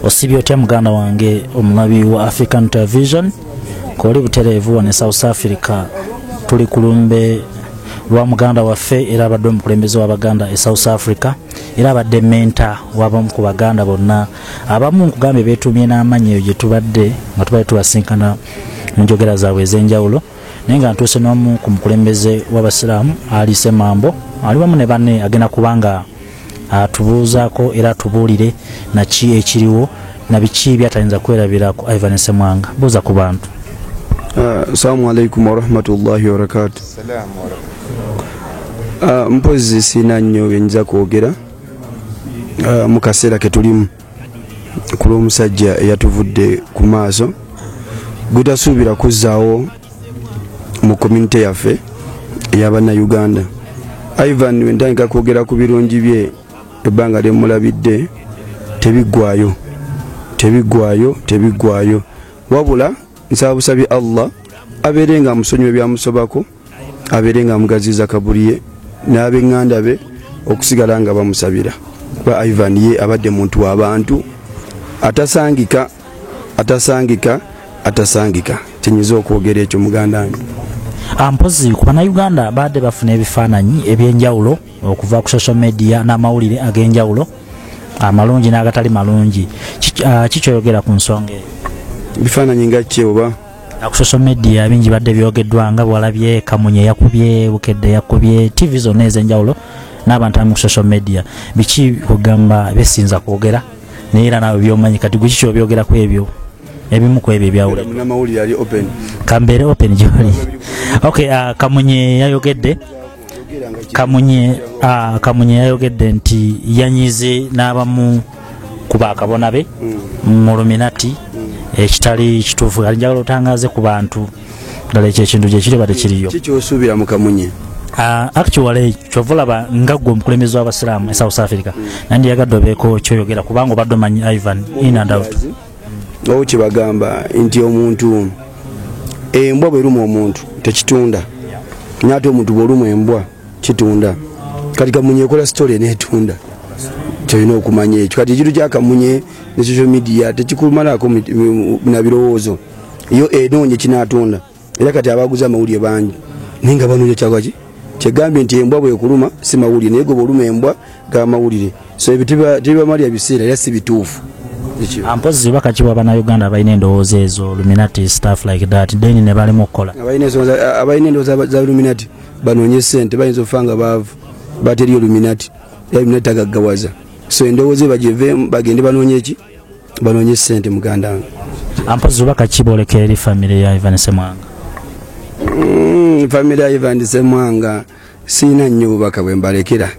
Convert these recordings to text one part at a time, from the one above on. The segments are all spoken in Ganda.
osibye otya muganda wange omulabi wa african television koli butereevu wane south africa tuli kulumbe lwa muganda waffe era abadde omukulembeze wabaganda e south africa era abadde menta wabamu ku baganda bonna abamu nkugambye betumye n'amanyi eyo gyetubadde nga tubadde tubasinkana mu njogera zaabwe ez'enjawulo naye nga ntuuse n'omu ku mukulembeze w'abasiraamu ali semambo ali wamu ne banne agenda kubanga atubuuzaako era atubuulire naki ekiriwo nabiki byatayinza kwerabirako ivan semwanga buuza ku bantu ah, assalamu alaikum warahmatullahi wabarakatu ah, mpozi siina nnyo byenyinza kwogera ah, mu kaseera ketulimu ku lw'omusajja eyatuvudde ku maaso gutasuubira kuzzaawo mu komunite yaffe eyabannayuganda ivan wentandika kwogera ku birungi bye ebbanga lyemulabidde tebiggwayo tebiggwayo tebiggwayo wabula nsaba busabye allah abeere nga musonyiwa ebyamusobako abeere nga amugaziiza kabuli ye n'abenganda be okusigala nga bamusabira kuba ivan ye abadde muntu wabantu atasangika atasangika atasangika kyenyiza okwogera ekyo muganda wange ah, mpozi ku banauganda baadde bafuna ebifaananyi ebyenjawulo okuva ku social media n'amawulire ag'enjawulo amalungi n'agatali malungi kikyoyogera ah, ku nsonga eyo ebifaananyi nga kyeoba ku social media bingi badde byogeddwa nga bwalabye kamunye yakubye bukedde yakubye tv zonna ez'enjawulo n'abantu abamu ku social media biki kugamba besinza kwogera naye era naawe byomanyi kati gwe kiki obyogera ku ebyo ebimu ku ebyo ebyawulira kambeere open gyoli ok uh, kamunye yayogedde kamunye ah, kamunye yayogedde nti yanyize n'abamu ku bakabona be mm. mu luminati mm. ekitali kituufu ali njagala otangaze ku bantu ddala ekyo ekintu gyekiri bade kiriyo kikyosuubira mu kamunye ah, actually kyova olaba nga gwe omukulembezi w'abasiraamu e south africa mm. nandi yagadde obeeko kyoyogera kubanga obadde omanyi ivan in and out owo kyebagamba nti omuntu embwa bweruma omuntu tekitunda naate omuntu bweruma embwa kitunda kati kamunye ekola sitole netunda kyolina okumanya ekyo kati ekintu kyakamunye ne social media tekikumalaako nabirowoozo yo enoonye kinatunda era kati abaguza amawulire bangi naye nga banoonya kyagaki kyegambye nti embwa bwekuluma si mawulire naye goba oluma embwa ga mawulire so ebyo tebibamalira biseera era si bituufu mpozi baka kiwa banauganda abalina endowooza ezo luminati staff like that then ne balimu okukola abalina endowooza za luminati banoonye sente bayinza okufa nga baavu bateriyo luminati era luminati tagaggawaza so endowooza ebagyevemu bagende banoonye ki banonye sente muganda wange ampozi oba kakiboleka eri famire ya ivan semwanga mm, famire ya ivan semwanga siina nnyo bubaka bwe mbalekera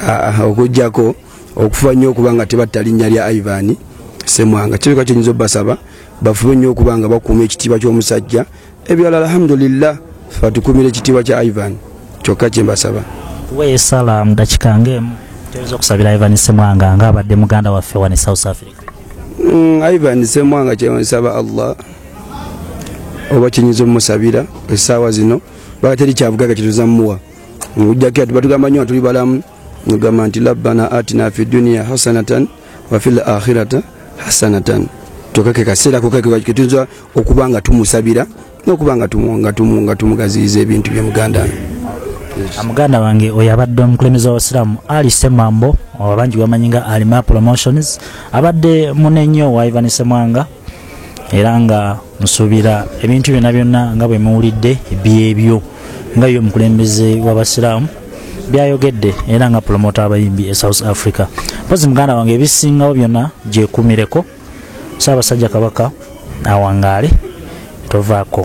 ah, ah, okujjako okufuba nnyo okuba nga tebatta linnya lya ivan semwanga kireka kyenyinza obasaba bafube nnyo okuba nga bakuuma ekitiibwa ky'omusajja ebyala alhamdulillah fatukumira ekitiibwa kya ivan kyokka kyembasaba wesala mudakika ngaemu toyinza okusabira ivan semwanga nga abadde muganda waffe wani south africa mm, ivan semwanga kyensaba allah oba kinyinza omusabira esaawa zino bakateri kyavugaga kituzamuwa ojjako ati batugamba nyo atuli balamu nogamba nti labbana atina fi duniya hasanatan wafil akhirata hasanatan tokake kaseera kokaketuyinza okuba nga tumusabira nokuba nga tumugaziyiza ebintu bye muganda muganda wange oyo abadde omukulembeze wabasiraamu ali semambo abangi bamanyi nga alima promotions abadde munenyo wa ivan semwanga era nga nsuubira ebintu byonna byonna nga bwe muwulidde byebyo nga ye omukulembeze w'abasiraamu byayogedde era nga promota abayimbi e south africa mpozi muganda wange ebisingawo byonna gyekumireko saabasajja kabaka awangaale tovaako